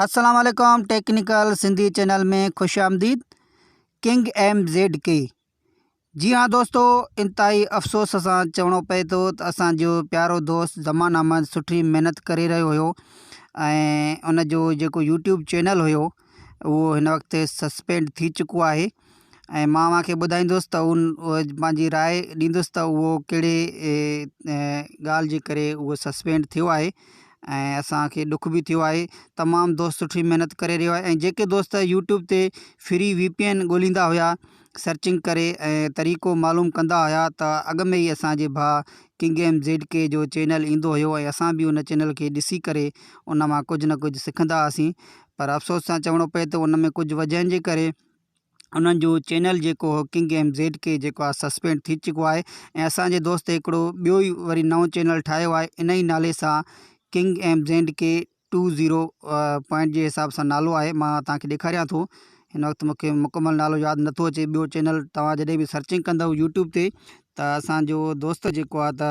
السلام عليڪم technical Sindhi channel ۾ خوش آمديد ڪنگ ايم زيڊ ڪي جي ها دوستو انتهائي افسوس سان چوڻو پئي ٿو ته اسانجو پيارو دوست زمان احمد سٺي محنت ڪري رهيو هيو ۽ ان جو جيڪو يوٽيوب چينل هيو اهو هن وقت سسپينڊ ٿي چڪو آهي ۽ مان اوهان کي ٻڌائيندس ته ان پنهنجي راء ڏيندس ته اهو ڪهڙي ڳالهه جي ڪري اهو سسپينڊ ٿيو آهي ۽ اسانکي ڏک به ٿيو آهي تمام دوست سٺي محنت ڪري رهيو آهي ۽ جيڪي دوست يوٽيوب تي فري وي پي اين ڳوليندا هيا سرچنگ ڪري ۽ طريقو معلوم ڪندا هيا ته اڳ ۾ ئي اسانجي ڀاء ڪنگ ايم زيڊ ڪي جو چينل ايندو هيو ۽ اسان به ان چينل کي ڏسي ڪري ان مان ڪجهه نه ڪجهه سکندا هئاسين پر افسوس سان چوڻو پئي ته ان ۾ ڪجهه وجهن جي ڪري انهن جو چينل جيڪو هو ڪنگ ايم زيڊ ڪي جيڪو آهي سسپينڊ ٿي چڪو آهي ۽ اسان جي دوست هڪڙو ٻيو ئي وري نئون چينل ٺاهيو آهي ان ئي نالي سان king M Z K two zero point جي حساب سان نالو آهي مان توهان کي ڏيکاريان ٿو هن وقت مونکي مڪمل نالو ياد نٿو اچي ٻيو چينل توهان جڏهن به سرچنگ ڪندو يوٽيوب تي ته اسان جو دوست جيڪو آهي ته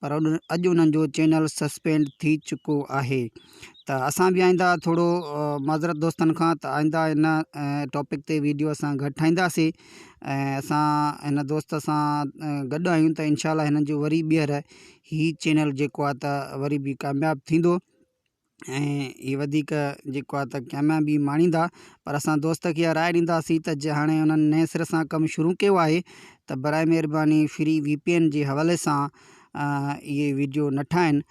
پر اڄ انهن جو چينل سسپينڊ ٿي چڪو آهي ته اسان به آئنده ٿورو معذرت دوستن کان ته آئنده ان ٽاپڪ تي ويڊيو اسان گهٽ ٺاهينداسي ۽ اسان هن دوست سان گڏ آهيون ته انشاء الله هن جو وري ٻيهر هي چينل جيڪو آهي ته وري به ڪامياب ٿيندو ۽ هي وڌيڪ جيڪو آهي ته ڪاميابي ماڻيندا پر اسان دوست کي اها راء ڏينداسين ته جي هاڻي انهن نئين سر سان ڪم شروع ڪيو آهي ته برائي مهرباني فري وي پي اين جي حوالي سان اهي ويڊيو نه ٺاهن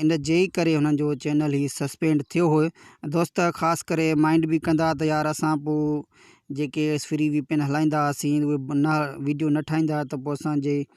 ان جي ئي ڪري هنن جو چينل هي سسپينڊ ٿيو هو دوست خاص ڪري مائنڊ به ڪندا ته يار اسان پوء جيڪي فري وي پي اين هلائيندا هئاسين اهي نه ويڊيو نه ٺاهيندا ته پوء اسانجي